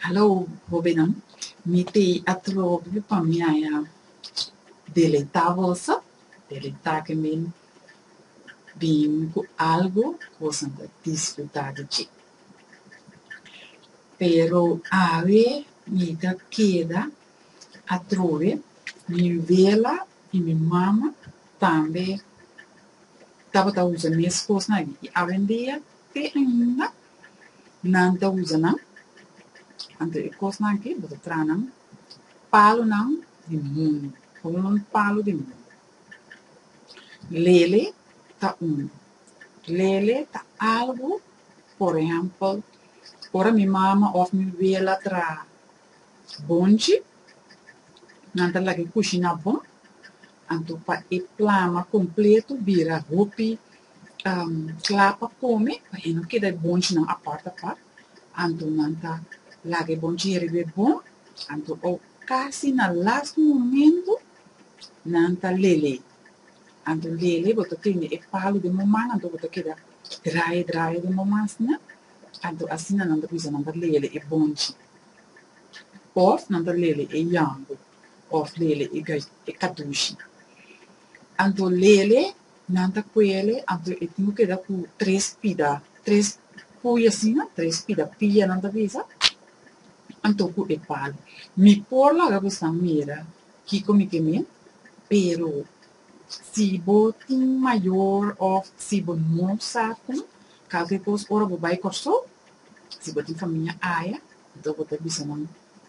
Hallo hobennan, mi te a trobe pa mi a ya deletá boso, deletá ke min bin ku algu ku boso no ta disfrutá di dje. Pero awe mi ta keda atrobe, mi wela I mi mama tambe tabata usa mes kosnan aki, i awendia te ainda nan ta usa nan. Anto e kosnan aki bo ta traha nan palunan di mundu, komo un palu di mundu. Lele ta unu, lele ta algu, por ehèmpel, ora mi mama òf mi wela traha Bonchi, nan ta lag'e kushi na bo, anto pa e plama kompleto bira hopi kla pa kome, pa e no keda e bonchinan apart apart, anto nan ta laga e bonchi e riba e bo, anto o kasi na last momento nan ta lele, anto lele bo ta tende e palu den bo man, anto bo ta keda draye draye den bo man sina, anto asina nan ta bisa nan ta lele e bonchi. Òf nan ta lele e yango òf lele e ga e katushi. Anto lele nan ta kuele, anto e tin ku keda ku tres pida, tres puya asina, tres pida pia nan ta bisa, anto ku e pal. Mi por laga boso mira kiko mi ke men, pero si bo tin mayor òf si bo no sa kon kal ke kos ora bo bai Kòrsou, Si bo tin famia aya, anto bo ta bisa nan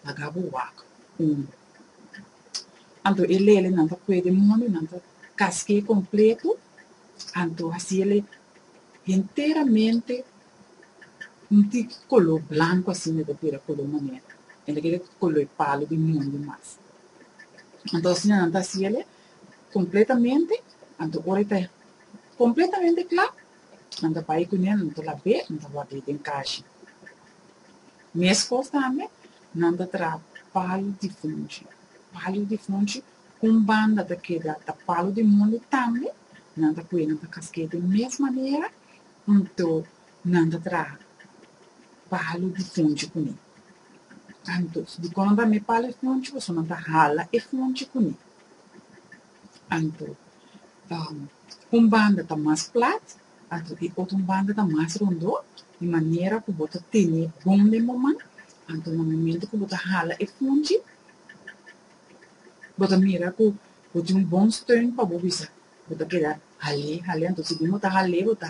laga bo wak umber. Anto e lelenan ta puede mono, nan ta kask'é kompleto, anto hasi el henteramente un tik koló blanko asina e ta bira koló manera, e na kere koló e palo di munde mas. Anto asina nan ta hasi el kompletamente, anto ora e ta kompletamente kla, Nan ta bai ku ne, nan ta la be, nan ta wak ei den kashi. Meskos tambe, nan ta traha palu di fonchi. Palu di fonchi, ku un banda ta keda ta palu di mundu, tambe nan ta kuye, nan ta kask'ei den mes manera, anto nan ta traha palu di fonchi ku ne. Anto, dikon nan ta mi e palu di fonchi? Pasobra nan ta hala e fonchi ku ne. Antro, Un banda ta mas plat, anto e otro banda ta mas rondó, di manera ku bo ta tene bon memoman, anto na momento ku bo ta hala e punchi, bo ta mira ku bo tin un bon steun pa bo bisa bo ta keda hal'é, hal'é, anto si bin bo ta hal'é bo ta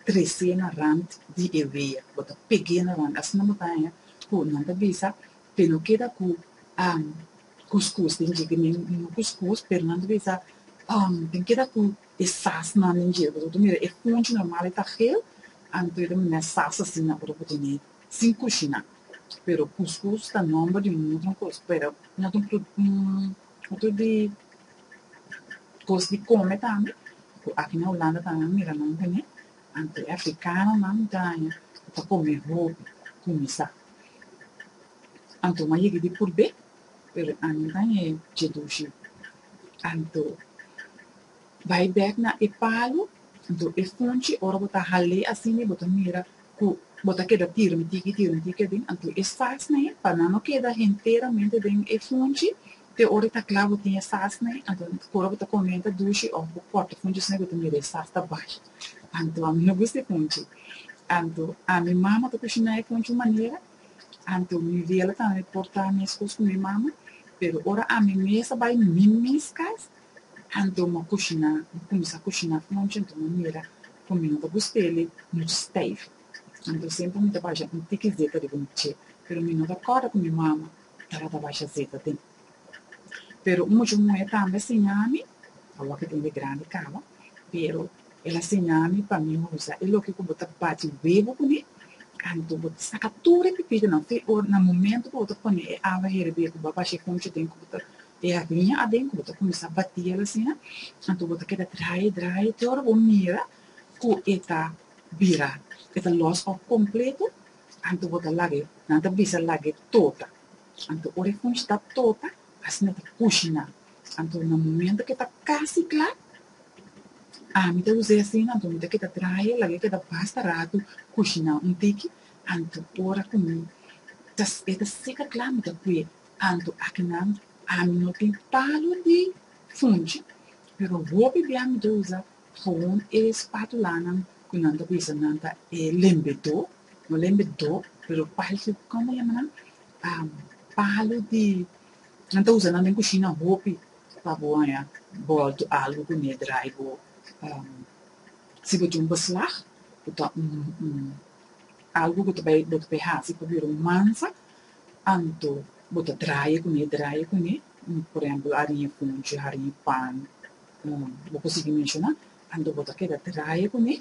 tres'é na rant di e wea, bo ta peg'é na rant, asina bo ta haña ku nan ta bisa Te lo keda ku am kuskus den dje kemen i no kuskus, pero nan ta bisa am den keda ku e sasnan den dje. Bo ta mira e punchi normal e ta hel, anto e ta mira nan sas asina ora bo tene sin kushiná. Pero kuskus ta nòmber di un otro kos, pero nan ta un pru un otro di kos di kome tambe ku aki na Hulanda tambe nan mira nan tene, anto e afrikanonan ta kome hopi kuminsá. Anto m'a yeg'e di purb'é, pero a no dañ'é dje dushi. Anto bai bèk na e palu, anto e funchi, ora bo ta hal'é asina bo ta mira ku bo ta keda tirami tiki tirami tiki aden, anto e sasn'é pa nan no keda henteramente den e funchi, te ora e ta kla bo tin e sasn'é, anto ku ora bo ta komienta dushi òf bo kòrta funchi asina bo ta mira e sas ta bai. Anto ami no gusta e poncho. Anto ami mama ta kushiná e poncho un manera, anto mi vela ta ami portá meskos ku mi mama, pero ora ami mes a bai mi mes kas, anto mi a kushiná, mi a kuminsá kushiná poncho ente un manera ku mi no ta gust'el muchu steif. Anto semper mi ta basha un tiki zeta riba mi che, pero mi no ta kòrda ku mi mama tabata basha zeta den. Pero un mucha muhé tambe a siña mi, awo'ke tin e grandi kaba, pero el a siña mi pa mi usa e loke ku bo ta bachi webo kuné, anto bo ta saka tur e pipiunan fe o na momentu ku bo ta pone e awa hervir ku bo a bashi e konchi aden ku bo ta, e ariña aden ku bo ta kuminsá batí el asina, anto bo ta keda drai e drai e te ora bo mira ku e ta bira, e ta lòs òf kompleto, anto bo ta lag'e, nan ta bisa lag'e tota. Anto ora e kush ta topa, asina ta kushiná. Anto na momento ke ta kasi kla, ami ta us'é asina, anto mi ta keda trahae, lag'é keda basta ratu kushiná un tiki, anto ora ku mi ta e ta seka kla mi ta ku'é. Anto aki nan ami no tin palu di funchi, pero hopi bia mi ta usa ghawon e spátulanan ku nan ta bisa nan ta e lembedó. No lembe do, pero parse ku kòm bo yama nan, palu di, nan ta usa nan den kushina hopi pa bo haña bòltu algu ku ne drai bo. Si bo tin un beslag, ku ta un un algu ku ta bai bo ta bai hasi pa bira un mansa, anto bo ta draie ku ne, draie ku ne, por ehèmpel ariña funchi, hariña pan, bo por sigui menshoná, anto bo ta keda draie ku ne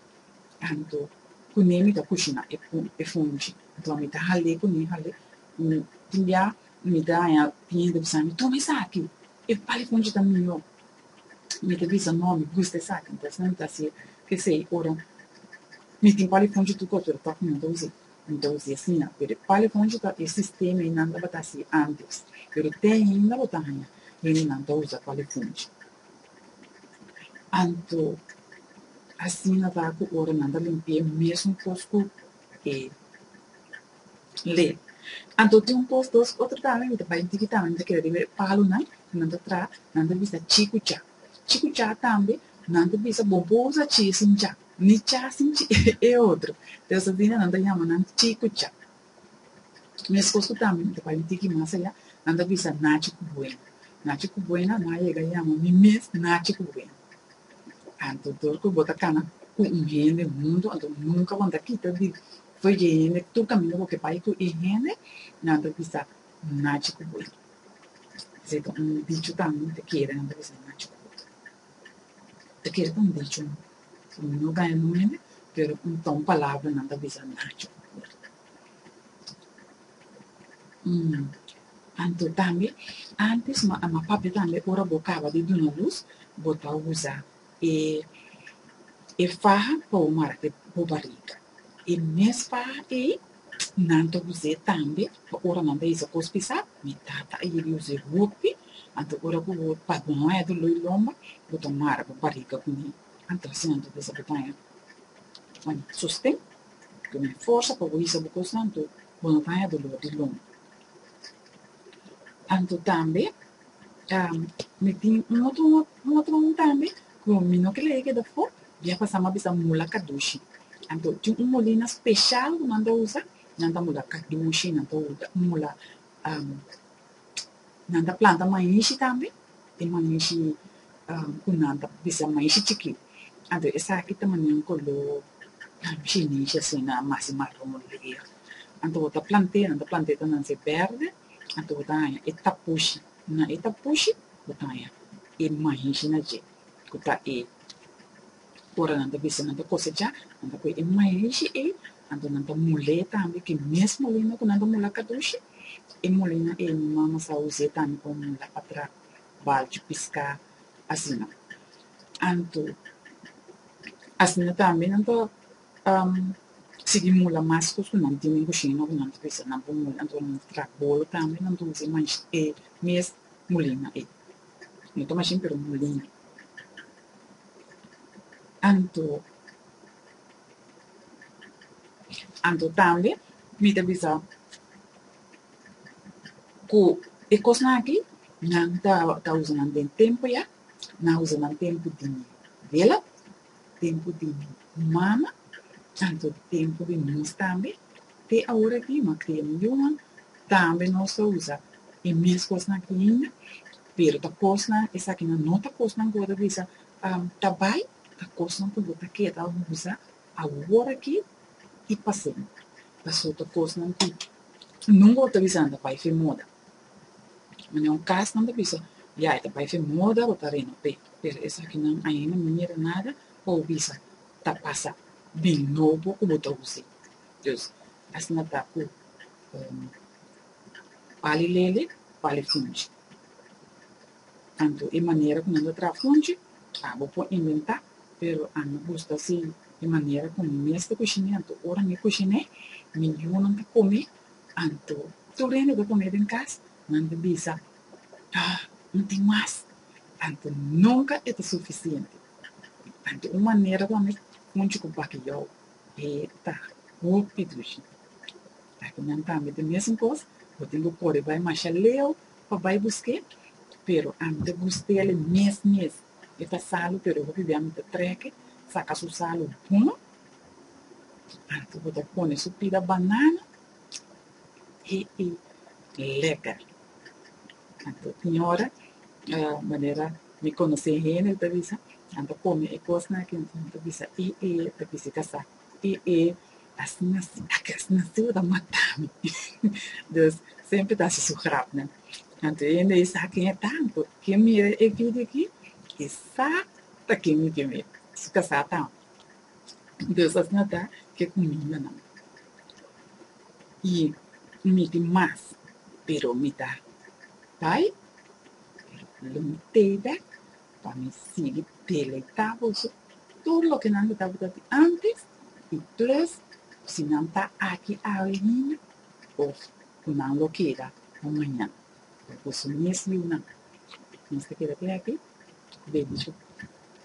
Tantu kuné mi ta kushi na e e funchi. Anto mi ta hal'é kuné, hal'é. Un tin bia mi ta haña kliente bisa mi, Toma esaki, e pal e funchi ta mihó. Mi ta bisa, No, mi gusta esaki. Anto asina mi ta hasié kesei. Ora mi tin pal e funchi tur kos tur tok mi no ta us'é, mi ta us'é asina. Pero e pal e funchi ta e sistema ei nan tabata hasié antes. Pero te ainda bo ta haña hendenan ta usa pal e funchi. Anto, asina ta ku ora nan ta limpi'é mesun kos ku e le. Anto tin un kos dos otro tambe mi ta bai dikitan mi ta kere riba e palunan ku nan ta traha, nan ta bisa chikucha. Chikucha tambe nan ta bisa bo por usa chi sin cha, ni cha sin chi e otro. Te esun tin nan ta yama nan chikucha. Mes cos cu tambe mi ta bai mi tiki mas aya, nan ta bisa Nachi cu Buena. Nachi cu Buena no a yega yama mi mes Nachi cu Buena. Anto dor cu bo ta cana cu un hende mundo, anto nunca bo no ta kita di fo'i dje hende, tur camina bo ke bai cu e hende, nan ta bisa Nachi cu Buena. Esei ta un dicho tambe mi ta kere, nan ta bisa Nachi cu Buena. Mi ta kere ta un dicho. Mi no bay no mene, pero un ton palabra nan ta bisa Nacho a puerta. Umm, Anto tambe, antes ma a ma papia tambe ora bo caba di duna luz, bo ta usa e e faha pa bo mara e bo bariga. E mes faha ey, Nan ta usa e tambe pa ora nan ta hisa cos pisa. Mi tata a yega usa e hopi, anto ora cu bo ta baña di loy lomba, bo ta mara bo bariga cu mi, anto asina nan ta bisa bo baña. Ma mi ta sosten cu mi forsa pa bo hisa bo cosnan, anto bo no baña dolor di lomba. Anto tambe Mi tin un otro un otro un tambe ku mi no ke lei keda for bia pasa mi a bisa mula kadushi anto tin un molina speshal ku nan ta usa nan ta mula kadushi nan ta mula nan ta planta maishi tambe e maishi ku nan ta bisa maishi chikí anto esaki ta mania un koló shinishi asina masi maron leer anto ta plante nan ta plante ta nan ser bèrdè. Anto bo ta haña e tapushi. Na e tapushi bo ta haña e maishnan dje, ku ta e, ora nan ta bisa nan ta kosechá, nan ta kue e maishi ei, anto nan ta mul'é tambe ku e mes molina ku nan ta mula kadushi, e molina ei mi mama sa us'é tambe pa mula pa tra balchu piská, asina. Anto, asina tambe nan ta. Sigui mula mas cos cu nan tinen cu shina cu nan ta bisa nan por mula anto nan traha bolo tambe nan dulce mansh e mes mulina ey no ta mashin pero mulina anto anto tambe mi ta bisa cu e cosnan aki nan ta usa nan den tempo ya nan usa nan tempo di vela. tempu di mama, tantu tempu di mis tambe, te awor aki ma kria mi yunan, tambe nos ta usa e mes kosnan aki hinda, pero ta kosnan, esakinan no ta kosnan ku bo ta bisa ta bai, ta kosnan ku bo ta keda usa awor aki i pa semper, pasobra ta kosnan ku nunka bo ta bisa nan ta bai fin moda. Manera un cas nan ta bisa, ya, e ta bai fe muda bo tareno, pe, pero esakinan ainda no yega nada pa bo bisa ta pasa di nobo ku bo ta usa ei. Dus, asina ta ku pali lele, pali funchi. Anto e manera ku nan ta traha funchi, a bo por inventá, pero a mi gusta si e manera ku mi mes ta kushiné, anto ora mi kushiné, mi yunan ta kome Anto, tur hende bo come den cas nan ta bisa, Ah, no tin mas! Anto nunca e ta suficiente. Anto un manera pa mi hunchi cu bakeyou e ta hopi dushi. Aki nan tambe ta mesun cos, bo tin bo cori bay masha leu pa bay busque, pero ami ta gustel e mes mes. E ta salu pero hopi bia mi ta treke saca su salu bon. Antes bo ta pone su pida banana y y leka. Anto tin ora ah manera mi conoce hende cu ta bisa nan ta come e cosnan aki entonces nan ta bisa i e ta bisti casa i e asina si aki asina si bo ta mata mi dus semper ta haci su grapnan. Anto e hende ey sa ken e ta anto ken mira e video aki y sa ta ken mi ken mi su casa ta. Deus a sna da e cuminda nan, y mi tin mas, pero mi ta bay, pero lo mi teda pa mi sigui deleita boso tur loke nan lo tabata di antes, y plus si nan ta aki awe ainda of cu nan lo keda pa mañana, boso mes yiu nan, nos ta keda pleki, bendicion.